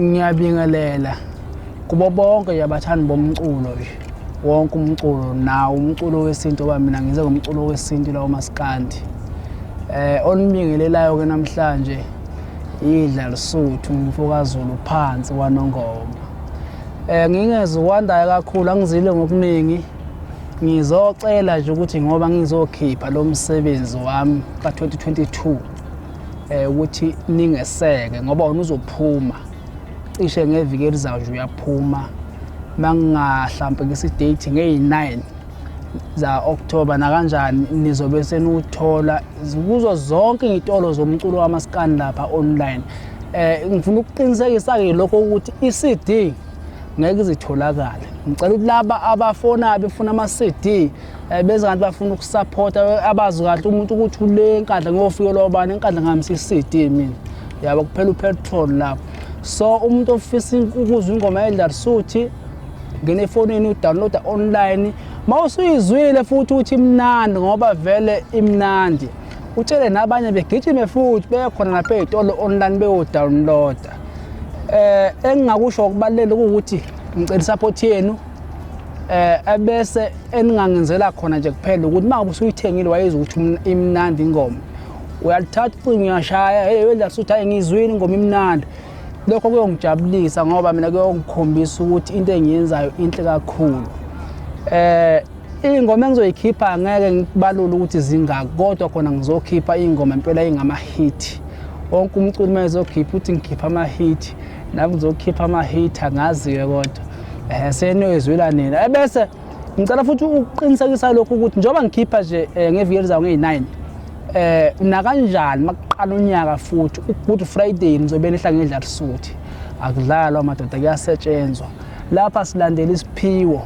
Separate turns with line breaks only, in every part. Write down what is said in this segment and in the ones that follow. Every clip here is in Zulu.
Ngiyabingelela kubo bonke nje abathandi bomculo nje wonke umculo nawo umculo wesintu oba mina ngize ngomculo wesintu lawo masikandi eh onibingelelayo ke namhlanje idla lisuthu umfokazulu phansi kwanongoma eh ngingeziwandayo kakhulu angizile ngokuningi ngizocela nje ukuthi ngoba ngizokhipha lo msebenzi wami ka-2022 eh ukuthi ningeseke ngoba wena uzophuma cishe ngeviki elizayo nje uyaphuma mangingahlampe ngisi date ngeyi9 za October nakanjani nizobe senuthola kuzo zonke izitolo zomculo wamaskani lapha online eh ngifuna ukuqinisekisa ke lokho ukuthi iCD ngeke izitholakale ngicela ukuthi laba abafona befuna ama-CD Eh, bese kanti bafuna ukusaphotha eh, abazi kahle umuntu ukuthi ule nkandla ngiyofike lobani enkandla ngihambisa i-cd mina yabo kuphela upetrol lapho so umuntu ofisa ukuzwa ingoma yedlarsuthi ngena efonini udownloada online ma usuyizwile futhi ukuthi imnandi ngoba vele imnandi utshele nabanye begijime futhi bekhona lapha ey'tolo online beyodownloada um eh, engingakusho ukubalulele kuwukuthi ngicela isaphothi yenu eh ebese eningangenzela khona nje kuphela ukuthi uma usuyithengile wayezwa ukuthi imnandi ingoma uyalithatha ucingo uyashaya hey wenza suthi hayi ngizwile ingoma imnandi lokho kuyongijabulisa ngoba mina kuyongikhombisa ukuthi into engiyenzayo inhle kakhulu eh ingoma engizoyikhipha ngeke ngibalule ukuthi zingaki kodwa khona ngizokhipha ingoma impela ingama hit wonke umculi uma ezokhipha uthi ngikhipha ama hit Nami ngizokhipha ama hater ngazi ke kodwa. Eh seniyezwela nina. Ebese eh, ngicela futhi ukuqinisekisa lokhu ukuthi njengoba ngikhipha nje eh, ngeviki elizayo ngeyi-9 eh nakanjani makuqala unyaka futhi uGood Friday nizobe nihla ngedla risuthi akudlalwa madoda kuyasetshenzwa lapha silandela isiphiwo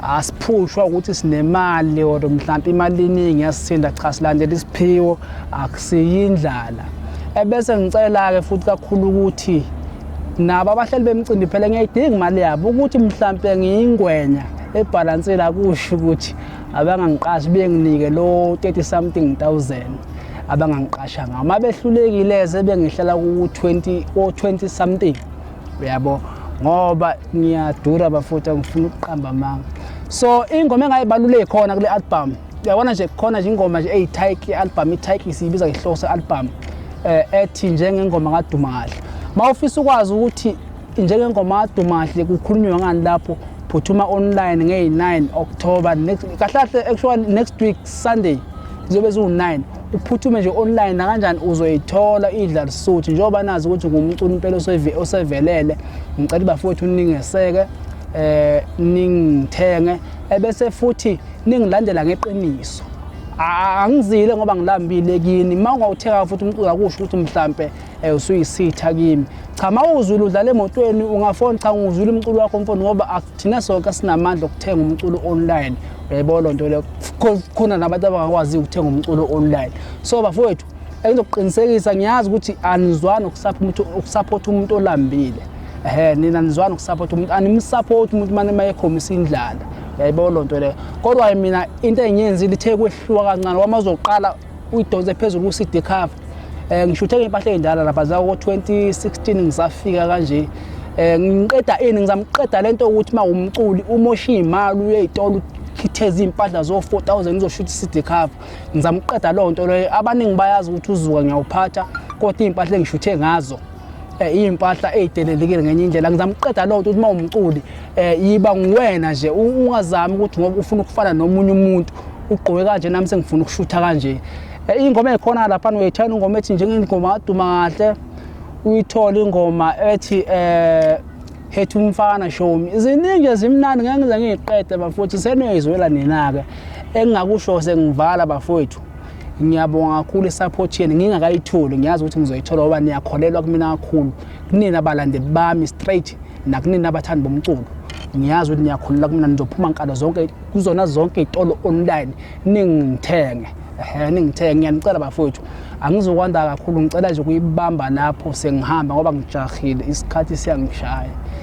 asiphushwa ukuthi sinemali or mhlawumbe imali iningi yasithinda cha silandela isiphiwo akusiyindlala ebese ngicela-ke futhi kakhulu ukuthi nabo abahleli bemcimbi phela ngiyayidinga imali yabo ukuthi mhlawumbe ngiyingwenya ebhalansela kusho ukuthi abangangiqashi benginike lo 30 something thousand abangangiqasha ngawo uma behlulekile sebengihlala ku-20 o-20 something uyabo ngoba ngiyadura bafutha ngifuna ukuqamba amanga so ingoma engayibaluleki khona kule album uyabona nje khona nje ingoma nje eyitike album itike siyibiza ngehloso album eh ethi njengengoma kaduma kahle mawufisa ukwazi ukuthi njengengoma kaduma kahle kukhulunywa ngani lapho phuthuma online ngey9 October next kahle kahle actually next week Sunday ziyobe ziwu9 uphuthume nje online nakanjani uzoyithola idla lisuthi njengoba nazi ukuthi ngumculi impela osevelele ngicela bafowethu ningeseke eh ningithenge ebese futhi ningilandela ngeqiniso angizile ngoba ngilambile kini uma ungawuthenga futhi umculo akusho ukuthi mhlampe Eh usuyisitha kimi. Cha mawuzulu udlala emotweni ungafoni cha ngizula umculo wakho mfoni ngoba thina sonke sinamandla okuthenga umculo online. Uyayibona loo nto leyo. Khona nabantu abangakwazi ukuthenga umculo online. So bafowethu engizokuqinisekisa ngiyazi ukuthi anizwani ukusaphotha umuntu olambile. Ehhe nina nizwani ukusaphotha umuntu animusaphotha umuntu mane mayekhombisa indlala. Uyayibona loo nto leyo. Kodwa mina into engiyenzile ithe kwehluka kancane wama uzoqala uyidonse phezulu ku-cd cover um eh, ngishuthe ngey'mpahla ey'ndala lapha zako-2016 ngisafika kanje um ngiqeda ini ngizamqeda le nto ukuthi uma wumculi umoshe iy'mali uyey'tolo ukhitheza iy'mpahla zo-four thousand ngizoshutha i-cd cover ngizamqeda loo nto leyo abaningi bayazi ukuthi uzuka ngiyawuphatha kodwa iy'mpahla engishuthe ngazo eh, iy'mpahla ey'delelekile ngenye indlela ngizama ukuqeda loo nto ukuthi uma umculi um yiba nguwena nje ungazami ukuthi ngoba ufuna ukufana nomunye umuntu ugqoke kanje nami sengifuna ukushutha kanje Eh, ingoma ekhona lapha uyayithanda ingoma ethi njengengoma aduma kahle uyithola ingoma ethi eh hethu umfana shomi iziningi ezimnandi ngeke ngize ngiyiqede bafowethu seniyizwela nina-ke engingakusho sengivala bafowethu ngiyabonga kakhulu isaphothi yenu ngingakayitholi ngiyazi ukuthi ngizoyithola ngoba niyakholelwa kumina kakhulu kunina balandeli bami straight nakunina abathandi bomculo ngiyazi ukuthi niyakhulula kumina nizophuma nkalo zonke kuzona zonke iy'tolo online ningithenge ehe ningithenge ngiyanicela bafowethu angizokwanda kakhulu ngicela nje ukuyibamba lapho sengihamba ngoba ngijahile isikhathi siyangishaya